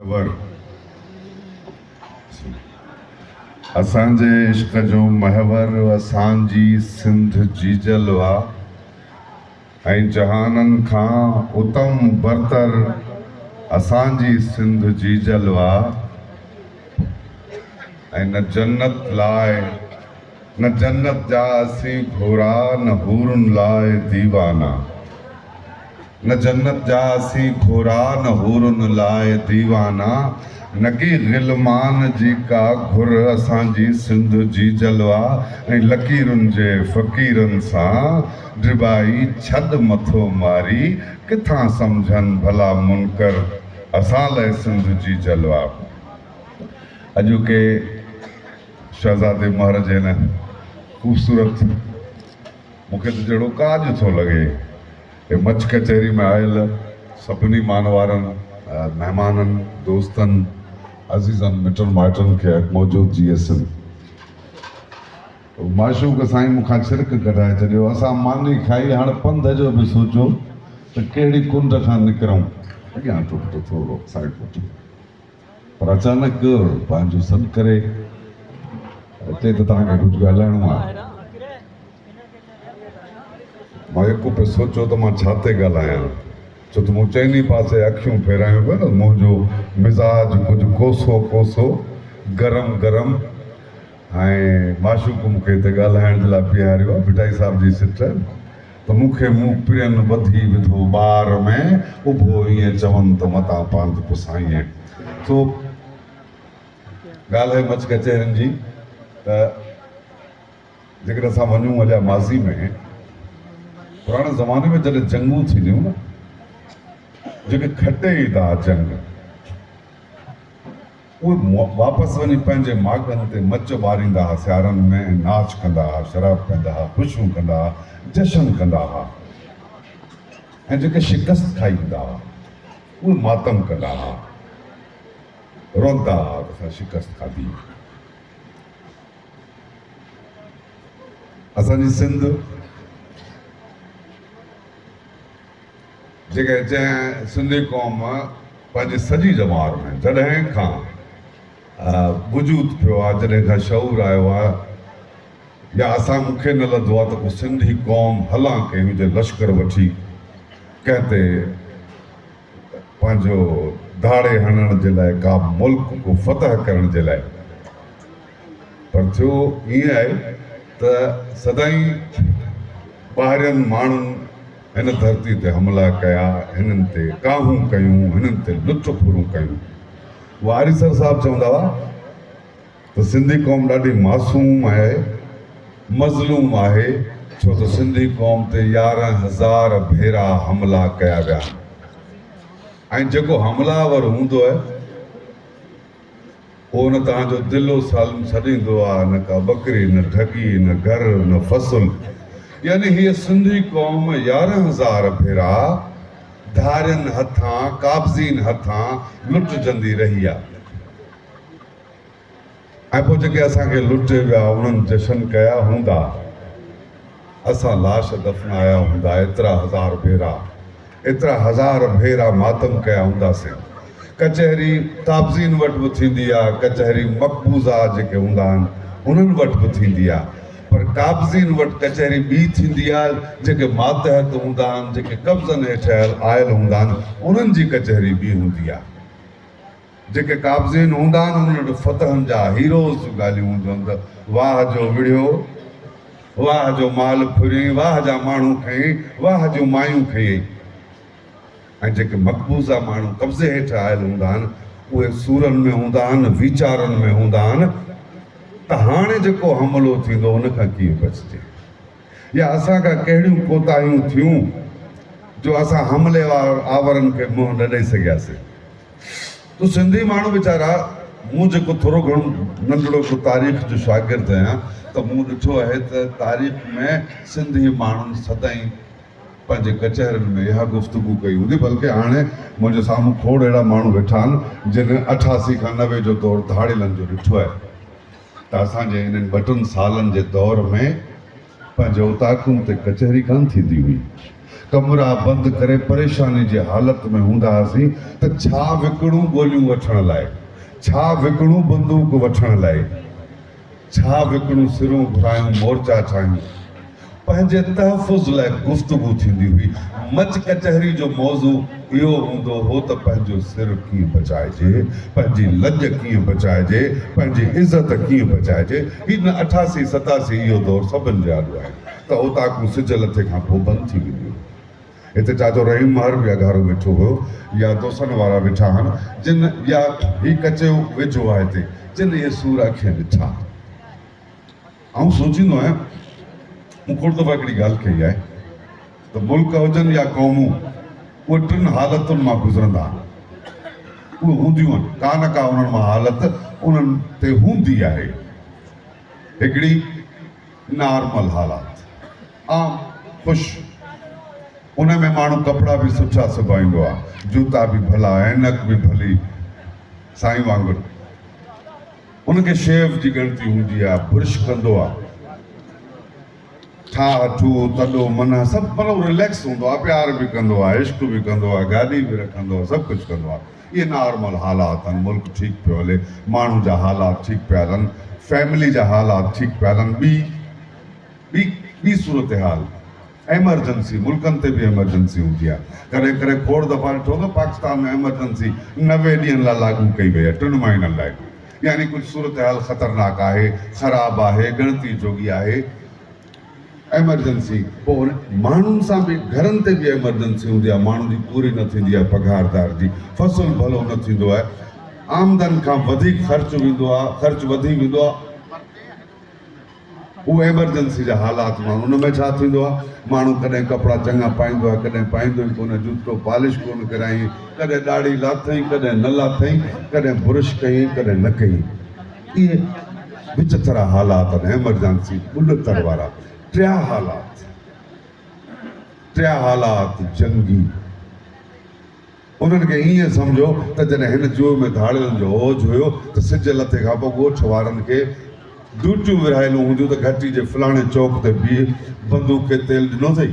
ور اسان جي عشق جو محور اسان جي سنڌ جيجل وا ۽ جهانن کان اتم برتر اسان جي سنڌ جيجل وا ۽ نه جنت لاء نه جنت جا اسين گهورا نه حورن لاء ديوانا نه جنت جا اسين گهورا نه حورن لاء ديوانا نڪي غلمان جي ڪا گهر اسان جي سنڌ جي جلوا ۽ لڪيرن جي فقيرن سان ڊٻائي ڇڏ مٿو ماري ڪٿان سمجهن ڀلا منڪر اسان لاء سنڌ جي جلوا اڄوڪي شهزادي مهر جي هن خوبصورت مون کي ته جهڙو ڪاڄ ٿو لڳي هي مڇ ڪچهري ۾ آيل سڀني مان وارن مهمانن دوستن عزيزن مٽن مائٽن کي اڳ موجود جي ايس ايم معشوق سائين مون کان ڇرڪ ڪڍائي ڇڏيو اسان ماني کائي هاڻ پنڌ جو به سوچو ته ڪهڙي ڪنڊ کان نڪرون اڳيان ٽوٽ ٿورو سائين پٺ پر اچانڪ پنهنجو سڏ ڪري چئي ته توهان کي ڪجهه ڳالهائڻو آهي. مان يڪو پئي سوچيو ته مان ڇا تي ڳالهايان، ڇو ته مون چئني پاسي اکيون ڦيرايون پيون ته منهنجو مزاج ڪجهه ڪوسو ڪوسو، گرم گرم ۽ معشوق مون کي هتي ڳالهائڻ جي لاء بيهاريو آهي، ڀٽائي صاحب جي سٽ. ته مون کي مون پرين ٻڌي وڌو ٻار ۾ اڀو ائين چون ته متان پانڌ پسائين سو ڳالهه مچ ڪچهرين جي ته جيڪڏهن اسان وڃون اڄا ماضي ۾ پراڻي زماني ۾ جڏهن جنگون ٿينديون نه جيڪي کٽي ادا جنگ اهي واپس وڃي پنهنجي ماڳن تي مچ ٻاريندا ها، سيارن ۾ ۽ ناچ ڪندا ها، شراب پيئندا ها، خوشيون ڪندا ها، جشن ڪندا ها ۽ جيڪي شڪست کائي ايندا ها، اهي ماتم ڪندا ها، رئندا ها ته اسان شڪست کاڌي. اسان جي سنڌ. جيڪڏهن جنهن سنڌي قوم پنهنجي سڄي ڄمار ۾ جڏهن کان وجود پيو آهي جڏهن کان شعور آيو آهي يا اسان مون کي نه لڌو آهي ته ڪو سنڌي قوم هلان ڪئي هجي لشڪر وٺي ڪنهن تي پنهنجو ڌاڙي هڻڻ جي لاء ڪا ملڪ ڪو فتح ڪرڻ جي لاء پر ٿيو ائين آهي ته سدائين ٻاهرين ماڻهن هن ڌرتي تي حملا ڪيا، هنن تي ڪاهون ڪيون، هنن تي لچ ڦرون ڪيون. اهو آريسر صاحب چوندا هئا ته سنڌي قوم ڏاڍي معصوم آهي، مظلوم آهي، ڇو ته سنڌي قوم تي يارهن هزار ڀيرا حملا ڪيا ويا آهن ۽ جيڪو حملا آور هوندو آهي، پوء نه توهان جو دل و سالم سڏيندو آ نه ڪا ٻڪري نه ڍڳي نه گهر نه فصل يعني هيء سنڌي قوم يارهن هزار ڀيرا ڌارين هٿان قابضين هٿان لٽجندي رهي آ ۽ پوء جيڪي اسان کي لٽي ويا انهن جشن ڪيا هوندا. اسان لاش دفنايا هوندا ايترا هزار ڀيرا ايترا هزار ڀيرا ماتم ڪيا هونداسين ڪچهري تابزين وٽ به ٿيندي آ ڪچهري مقبوضا جيڪي هوندا آهن انهن وٽ به ٿيندي آ پر قابضين وٽ ڪچهري ٻي ٿيندي آ جيڪي ماتحت هوندا آهن جيڪي قبضن هيٺ آيل هوندا آهن انهن جي ڪچهري ٻي هوندي آ. جيڪي قابضين هوندا آهن انهن وٽ فتحن جا هيروز جون ڳالهيون هونديون آهن ته واهه جو وڙهيو واهه جو مال ڦريئين واهه جا ماڻهو کنئين واهه جون مايون کنئين ۽ جيڪي مقبوضه ماڻهو قبضي هيٺ آيل هوندا آهن اهي سورن ۾ هوندا آهن ويچارن ۾ هوندا آهن ته هاڻي جيڪو حملو ٿيندو ان کان ڪيئن بچجي يا اسان کان ڪهڙيون ڪوتاهيون ٿيون جو اسان حملي آورن کي منهن نه ڏئي سگهياسين تو سنڌي ماڻهو ويچارا مون جيڪو ٿورو گهڻو ننڍڙو ڪو تاريخ جو شاگرد آهيان ته مون ڏٺو آهي ته تاريخ ۾ سنڌي ماڻهن سدائين پنهنجي ڪچهرين ۾ اها گفتگو ڪئي هوندي بلڪه هاڻي منهنجي سامهون کوڙ اهڙا ماڻهو ويٺا آهن جن اٺاسي کان نوي جو دور ڌاڙيلن جو ڏٺو آهي ته اسان جي انهن ٻه ٽن سالن جي دور ۾ پنهنجي اوطاقن تي ڪچهري ڪانه ٿيندي هئي. ڪمرا بند ڪري پريشاني جي حالت ۾ هوندا هئاسين ته ڇا وڪڻون گوليون وٺڻ لاء، ڇا وڪڻون بندوق وٺڻ لاء، ڇا وڪڻون سرون گهرايون مورچا ٺاهيون. پنهنجي تحفظ لاء گفتگو ٿيندي هئي. مچ ڪچهري جو موضوع. اهو هوندو هو ته پنهنجو سر ڪيئن بچائجي، پنهنجي لڄ ڪيئن بچائجي، پنهنجي عزت ڪيئن بچائجي. هي نه اٺاسي ستاسي اهو دور سڀن جي آڏو آهي ته اوطاقون سج لٿي کان پوء بند ٿي وينديون هيون. هتي چاچو رحيم مهر به اگهاڙو ويٺو هيو يا دوسن وارا ويٺا هن جن يا هي ڪچيو ويجهو آهي هتي جن اهي سور اکين ڏٺا. آئون سوچيندو آهيان، مون کوڙ دفعا هڪڙي ڳالهه ڪئي آهي ته ملڪ هجن يا قومون اهي ٽن حالتن مان گذرندا آهن. اهي هونديون آهن، ڪا نه ڪا انهن مان حالت انهن تي هوندي آهي. هڪڙي نارمل حالات، عام، خوش، ان ۾ ماڻهو ڪپڙا به سٺا سبائيندو آهي، جوتا به ڀلا، عينڪ به ڀلي، سائين وانگر. ان کي شيو جي ڳڻتي هوندي آ، برش ڪندو آ، ٺاهه ٺوهه، تڏو منهه سڀ مطلب رليڪس هوندو آ، پيار به ڪندو آ، عشق به ڪندو آ، گاڏي به رکندو آ، سڀ ڪجهه ڪندو آ. اهي نارمل حالات آهن، ملڪ ٺيڪ پيو هلي، ماڻهن جا حالات ٺيڪ پيا هلن، فيملي جا حالات ٺيڪ پيا هلن، ٻي ٻي ٻي صورتحال. ايمرجنسي، ملڪن تي به ايمرجنسي هوندي آهي. ڪڏهن ڪڏهن کوڙ دفعا ڏٺو ته پاڪستان ۾ ايمرجنسي نوي ڏينهن لاء لاڳو ڪئي وئي آهي، ٽن مهينن لاء. يعني ڪجهه صورتحال خطرناڪ آهي، خراب آهي، ڳڻتي جوڳي آهي. ايمرجنسي پوء ان ماڻهن سان به گهرن تي به ايمرجنسي هوندي آهي، ماڻهن جي پوري نه ٿيندي آهي، پگهاردار جي فصل ڀلو نه ٿيندو آهي، آمدن کان وڌيڪ خرچ ويندو آهي، خرچ وڌي ويندو آهي. هو ايمرجنسي جا حالات ماڻهو ان ۾ ڇا ٿيندو آهي ماڻهو ڪڏهن ڪپڙا چڱا پائيندو آهي ڪڏهن پائيندو ئي ڪونه جوتو پالش ڪونه ڪرايين ڪڏهن ڏاڙهي لاٿئين ڪڏهن نه لاٿئين ڪڏهن برش ڪيئين ڪڏهن نه ڪيئين اهي وچٿرا حالات آهن ايمرجنسي ٻلتر وارا ٽيا حالات ٽيا حالات جنگي انهن کي ائين سمجهو ته جڏهن هن جوء ۾ ڌاڙيلن جو اوج هيو ته سج لٿي کان پوء ڳوٺ وارن کي ڊيوٽيون ورهايلون هونديون ته گهٽي جي فلاڻي چوڪ تي بيهه بندوق کي تيل ڏنو اٿئي،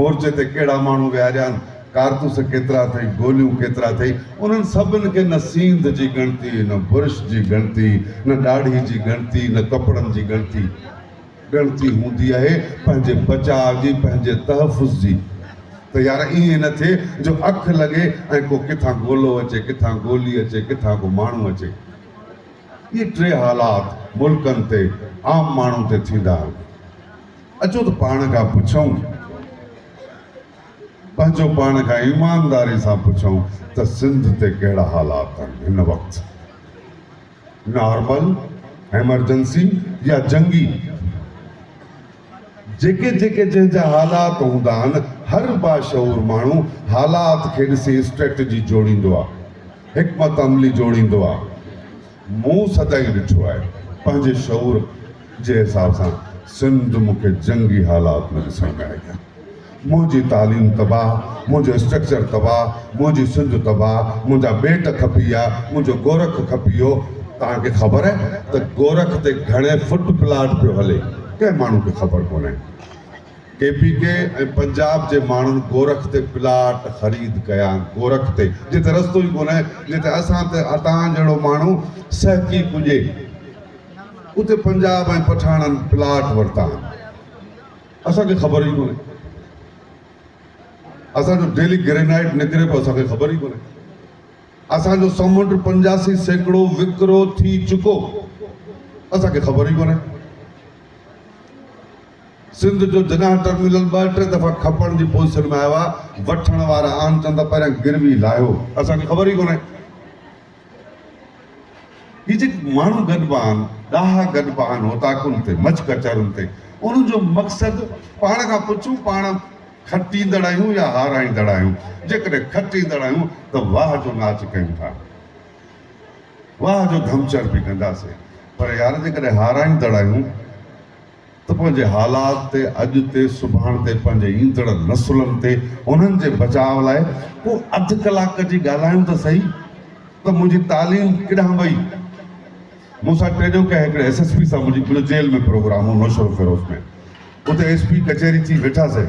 مورچي تي ڪهڙا ماڻهو ويهاريان، ڪارتوس ڪيترا اٿئي، گوليون ڪيترا اٿئي، انهن سڀن کي نه سينڌ جي ڳڻتي، نه برش جي ڳڻتي، نه ڏاڙهي جي ڳڻتي، نه ڪپڙن جي ڳڻتي. ڳڻتي هوندي آهي پنهنجي بچاء جي، پنهنجي تحفظ جي ته يار ائين نه ٿئي جو اک لڳي ۽ ڪو ڪٿان گولو اچي، ڪٿان گولي اچي، ڪٿان ڪو ماڻهو اچي. اهي ٽي حالات ملڪن تي، عام ماڻهن تي ٿيندا آهن. اچو ته پاڻ کان پڇون، پنهنجو پاڻ کان ايمانداري سان پڇون ته سنڌ تي ڪهڙا حالات آهن هن وقت؟ نارمل، ايمرجنسي يا جنگي، جيڪي جيڪي جنهن جا حالات هوندا آهن، هر باشعور ماڻهو حالات کي ڏسي اسٽريٽجي جوڙيندو آهي، حڪمت عملي جوڙيندو آهي. مون سدائين ڏٺو آهي، پنهنجي شعور جي حساب سان سنڌ مون کي جنگي حالات ۾ ڏسڻ ۾ آئي آهي. منهنجي تعليم تباهه، منهنجو اسٽرڪچر تباهه، منهنجي سنڌ تباهه، منهنجا ٻيٽ کپي ويا، منهنجو گورک کپي ويو. توهان کي خبر آهي ته گورک تي گهڻي فٽ پلاٽ پيو هلي؟ ڪنهن ماڻهو کي خبر ڪونهي. ڪي پي ڪي ۽ پنجاب جي ماڻهن گورک تي پلاٽ خريد ڪيا، گورک تي جتي رستو ئي ڪونهي، جتي اسان تي توهان جهڙو ماڻهو سهڪي پڄي، اتي پنجاب ۽ پٺاڻن پلاٽ ورتا آهن. اسان کي خبر ئي ڪونهي اسان جو ڊيلي گرينائيٽ نڪري پيو اسان کي خبر ئي ڪونهي اسان جو سمنڊ پنجاسي سيڪڙو وڪرو ٿي چڪو اسان کي خبر ئي ڪونهي سنڌ جو جناح ٽرمينل ٻه ٽي دفعا کپڻ جي پوزيشن ۾ آيو آهي وٺڻ وارا آن چندا پهريان گروي لاهيو اسان کي خبر ئي ڪونهي هي جيڪي ماڻهو گڏبا آهن، ڏاها گڏبا آهن اوطاقن تي، مڇ ڪچهرن تي، انهن جو مقصد پاڻ کان پڇون پاڻ کٽيندڙ آهيون يا هارائيندڙ آهيون؟ جيڪڏهن کٽيندڙ آهيون ته واه جو ناچ ڪيون ٿا، واه جو ڌمچر به ڪنداسين پر يار جيڪڏهن هارائيندڙ آهيون، ته پنهنجي حالات تي، اڄ تي، سڀاڻ تي، پنهنجي ايندڙ نسلن تي، انهن جي بچاء لاء ڪو اڌ ڪلاڪ جي ڳالهايون ته سهي ته منهنجي تعليم ڪيڏانهن وئي؟ مون سان ٽيڏو ڪنهن هڪڙي ايس ايس پي سان منهنجي مليو جيل ۾ پروگرام هو نوشهروفيروز ۾ اتي ايس پي ڪچهري ٿي ويٺاسين.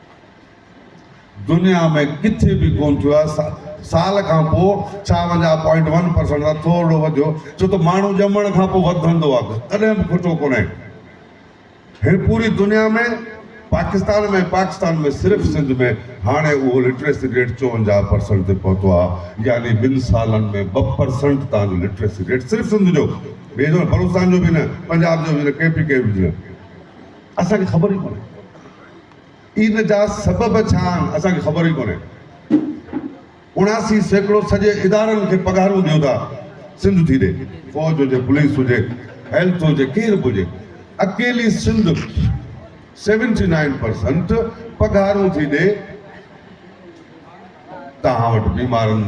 دنيا ۾ ڪٿي به ڪونه ٿيو آهي، سال کان پوء ڇاونجاهه پوائنٽ ون پرسنٽ سان ٿورڙو وڌيو ڇو ته ماڻهو ڄمڻ کان پوء وڌندو آهي ڪڏهن به کٽو ڪونهي هي پوري دنيا ۾ پاڪستان ۾ پاڪستان ۾ صرف سنڌ ۾ هاڻي اهو لٽريسي ريٽ چونجاهه پرسنٽ تي پهتو آهي يعني ٻن سالن ۾ ٻه پرسنٽ تان جو لٽريسي ريٽ صرف سنڌ جو ٻئي جو بلوچستان جو به نه پنجاب جو به نه ڪي پي ڪي به نه اسان کي خبر ئي ڪونهي ان جا سبب ڇا آهن اسان کي خبر ئي ڪونهي. اڻاسي سيڪڙو سڄي ادارن کي پگهارون ڏيو ٿا سنڌ ٿي ڏي. فوج هجي پوليس هجي هيلٿ هجي ڪير به هجي اڪيلي سنڌ سيونٽي نائين پرسنٽ پگهارون ٿي ڏي. توهان وٽ بيمارن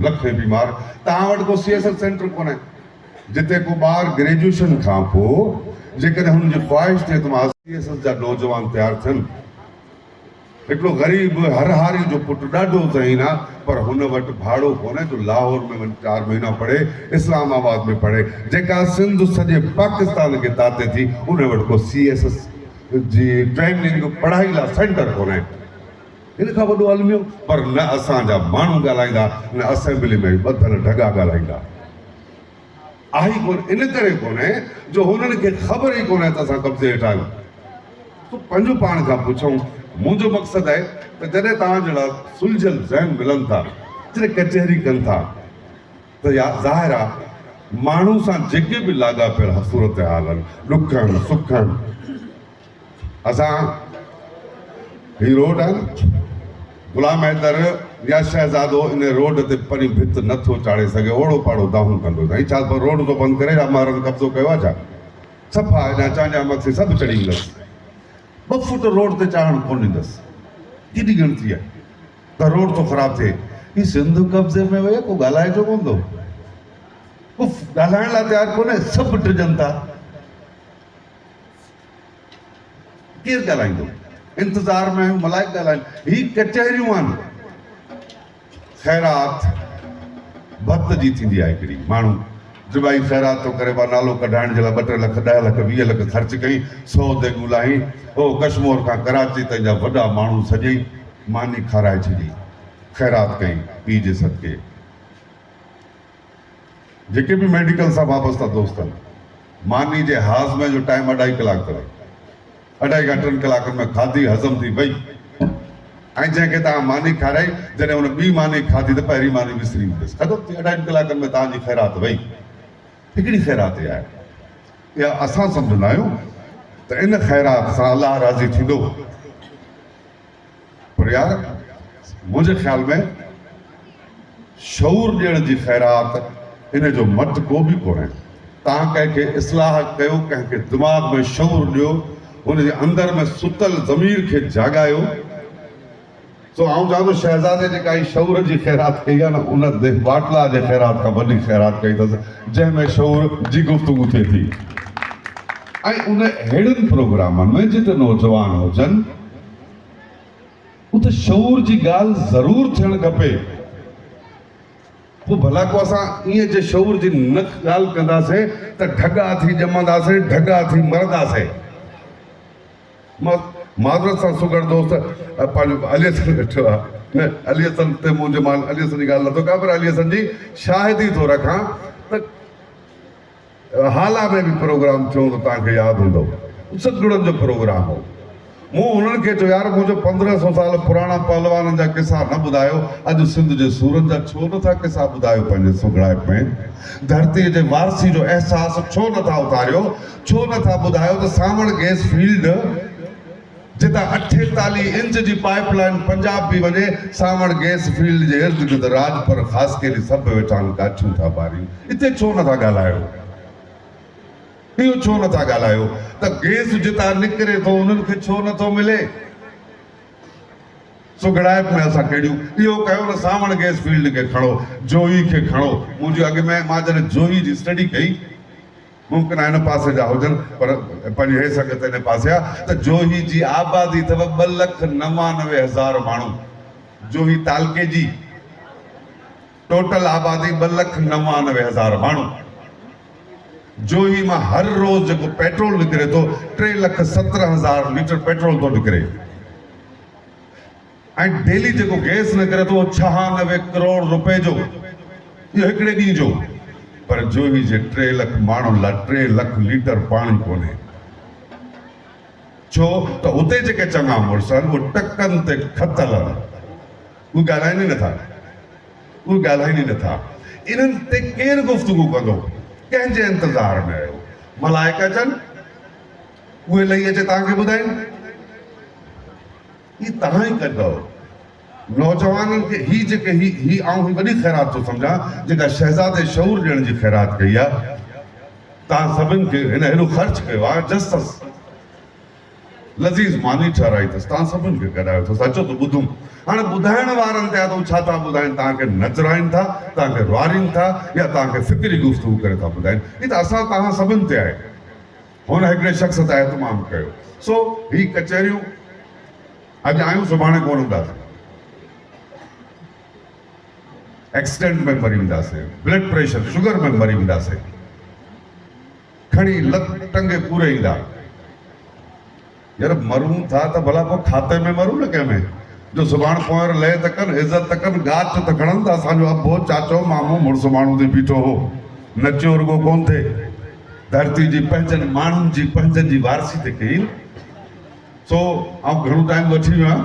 لکين بيمار توهان وٽ ڪو سي ايس ايل سينٽر ڪونهي. جتي ڪو ٻار گريجوئيشن کان پوء جيڪڏهن هن جي خواهش ٿئي ته مان آء سي ايس ايس جا نوجوان تيار ٿين. هڪڙو غريب هرهاري جو پٽ ڏاڍو ذهين آ پر هن وٽ ڀاڙو ڪونهي جو لاهور ۾ وڃي چار مهينا پڙهي اسلام آباد ۾ پڙهي جيڪا سنڌ سڄي پاڪستان کي تاتي ٿي انهي وٽ ڪو سي ايس ايس جي ٽريننگ پڙهائي لا سينٽر ڪونهي. ان کان وڏو الميو. پر نه اسان جا ماڻهو ڳالهائيندا نه اسيمبلي ۾ ٻڌل ڍڳا ڳالهائيندا. آهي ڪونه ان ڪري ڪونهي جو هنن کي خبر ئي ڪونهي ته اسان قبضي هيٺ آهيون. سو پنهنجو پاڻ کان پڇون منهنجو مقصد اهي ته جڏهن توهان جهڙا سلجهيل ذهن ملن ٿا جڏهن ڪچهري ڪن ٿا ته يا ظاهر آهي ماڻهو سان جيڪي به لاڳاپيل صورتحال آهن ڏکن سکن اسان هي روڊ آهي نه غلام حيدر يا شهزادو ان روڊ تي پرين ڀت نه ٿو چاڙهي سگهي اوڙو پاڙو دانهون ڪندو سائين ڇا پر روڊ ٿو بند ڪري يا مارن قبضو ڪيو آهي ڇا صفا اڃا چانڊيا مٿي سڀ چڙهي ايندس ٻه فوٽ روڊ تي چاڙهڻ ڪونه ڏيندس ڪيڏي ڳڻتي آهي ته روڊ ٿو خراب ٿئي هي سنڌ قبضي ۾ ويو ڪو ڳالهائي جو ڪون ٿو ڳالهائڻ لاء تيار ڪونهي سڀ ڊڄن ٿا ڪير ڳالهائيندو؟ انتظار ۾ آهيون ملائڪ ڳالهائين. هي ڪچهريون آهن. خيرات ڀت جي ٿيندي آهي هڪڙي. ماڻهو جبائي خيرات ٿو ڪري ٻا نالو ڪڍائڻ جي لاء ٻه ٽي لک ڏهه لک ويهه لک خرچ ڪئين سو ديڳون لاهين او ڪشمور کان ڪراچي تائين جا وڏا ماڻهو سڄي ماني کارائي ڇڏي خيرات ڪئين پيء جي صدقي. جيڪي به ميڊيڪل سان وابسته دوست آهن، ماني جي هاضمي جو ٽائيم اڍائي ڪلاڪ تائين. اڍائي کان ٽن ڪلاڪن ۾ کاڌي هضم ٿي وئي ۽ جنهن کي توهان ماني کارائي، جڏهن ان ٻي ماني کاڌي ته پهرين ماني وسري ويندس. ختم ٿي اڍائن ڪلاڪن ۾ توهان جي خيرات وئي. هي ڪهڙي خيراتي آهي؟ اها اسان سمجهندا آهيون ته ان خيرات سان الله راضي ٿيندو. پر يار منهنجي خيال ۾ شعور ڏيڻ جي خيرات ان جو مٽ ڪو به ڪونهي. تان ڪنهن کي اصلاح ڪيو ڪنهن کي دماغ ۾ شعور ڏيو هن جي اندر ۾ ستل ضمير کي جاڳايو. سو آئون چوان ٿو شهزادي جيڪا هي شعور جي خيرات ڪئي آهي نه ان ديھ ٻاٽلا جي خيرات کان وڏي خيرات ڪئي اٿس جنهن ۾ شعور جي گفتگو ٿئي ٿي ۽ ان اهڙن پروگرامن ۾ جتي نوجوان هجن. اتي شعور جي ڳالهه ضرور ٿيڻ کپي. پوء ڀلا ڪو اسان ائين جي شعور جي نه ڳالهه ڪنداسين ته ڍڳا ٿي ڄمنداسين، ڍڳا ٿي مرنداسين. مان معذرت سان سگهڙ دوست پنهنجو علي حسن ويٺو آهي نه علي حسن تي منهنجو مان علي حسن جي ڳالهه نه ٿو ڪيان پر علي حسن جي شاهدي ٿو رکان ته، هالا ۾ به پروگرام ٿيو هوندو توهان کي ياد هوندو سگهڙن جو پروگرام هو مون انهن کي چيو يار مون جو پندرهن سو سال پراڻا پهلوانن جا قصا نه ٻڌايو اڄ سنڌ جي سورن جا ڇو نه ٿا قصا ٻڌايو پنهنجي سگهڙائپ ۾ ڌرتي جي وارثي جو احساس ڇو نه ٿا اٿاريو ڇو نه ٿا ٻڌايو ته سانوڻ گيس فيلڊ جتان اٺيتاليهه انچ جي پائيپ لائين پنجاب پي وڃي، سانوڻ گيس فيلڊ جي ارد گرد راڄپر، خاصخيلي سڀ ويٺا آهن ڪاٺيون ٿا ٻارين. اتي ڇو نه ٿا ڳالهايو؟ اهو ڇو نه ٿا ڳالهايو ته گيس جتان نڪري ٿو انهن کي ڇو نه ٿو ملي؟ سگهڙائپ ۾ اسان ڪهڙيون؟ اهو ڪيو نه سانوڻ گيس فيلڊ کي کڻو، جوهي کي کڻو، منهنجي اڳ ۾ مان جڏهن جوهي جي اسٽڊي ڪئي، ممڪن آ هن پاسي جا هجن پر پنهنجي هي سنگت ان پاسي آ ته جوهي جي آبادي اٿو ٻه لک نوانوي هزار ماڻهو جوهي تعلقي جي ٽوٽل آبادي ٻه لک نوانوي هزار ماڻهو جوهي مان هر روز جيڪو پيٽرول نڪري ٿو ٽي لک سترهن هزار ليٽر پيٽرول ٿو نڪري ۽ ڊيلي جيڪو گئس نڪري ٿو اهو ڇهانوي ڪروڙ روپئي جو اهو هڪڙي ڏينهن جو پر جوهي جي ٽي لک ماڻهن لاء ٽي لک ليٽر پاڻي ڪونهي ڇو ته اتي جيڪي چڱا مڙس آهن اهي ٽڪن تي کتل آهن اهي ڳالهائين ئي نٿا اهي ڳالهائين ئي نٿا انهن تي ڪير گفتگو ڪندو ڪنهن جي انتظار ۾ آهيو ملائڪ اچن اهي لهي اچي توهان کي ٻڌائين هي توهان ئي ڪڍئو نوجوانن کي هي جيڪي هي هي آئون هي وڏي خيرات ٿو سمجهان جيڪا شهزادي شعور ڏيڻ جي خيرات ڪئي آ توهان سڀن کي هن هيڏو خرچ ڪيو آ جسس لذيذ ماني ٺهرائي اٿس توهان سڀن کي گڏايو اٿس اچو ته ٻڌون هاڻي ٻڌائڻ وارن تي آ ته هو ڇا ٿا ٻڌائين توهان کي نچرائين ٿا توهان کي روئارين ٿا يا توهان کي فڪري گفتگو ڪري ٿا ٻڌائين هي ته اسان توهان سڀن تي آهي. هن هڪڙي شخص تي اهتمام ڪيو، سو هي ڪچهريون اڄ آيون سڀاڻي ڪونه هونداسين. ايڪسڊنٽ ۾ مري وينداسين، بلڊ پريشر شگر ۾ مري وينداسين. کڻي لت ٽنگي پوري ايندا. يار مرون ٿا ته ڀلا پوء کاتي ۾ مرون نه ڪنهن ۾ جو سڀاڻ ڪنوار لئي ته ڪن عزت ته ڪن گاچ ته کڻن ته اسان جو ابو چاچو مامو مڙس ماڻهو ٿي بيٺو هو نچيو رڳو ڪون ٿي ڌرتي جي پنهنجن ماڻهن جي پنهنجن جي وارثي ته ڪئي سو آئون گهڻو ٽائيم وٺي ويو آهيان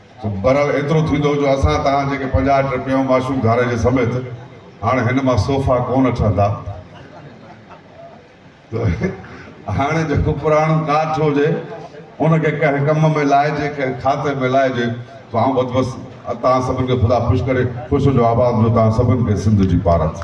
بھرحال ايترو ٿيندو جو اسان توھان جيڪي پنجاھھ ٽھ پيئون معشوق ڌاريجي سميت ھاڻ ھن مان صوفا ڪونھ ٺھندا تھ ھاڻي جيڪو پراڻو ڪاٺ ھجي ان کي ڪنھن ڪم ۾ لائجي ڪنھن کاتي ۾ لائجي تھ آئون بھ بس توھان سڀن کي خدا خوش ڪري خوش ھجو آباد ھجو توھان سڀن کي سنڌ جي پارت.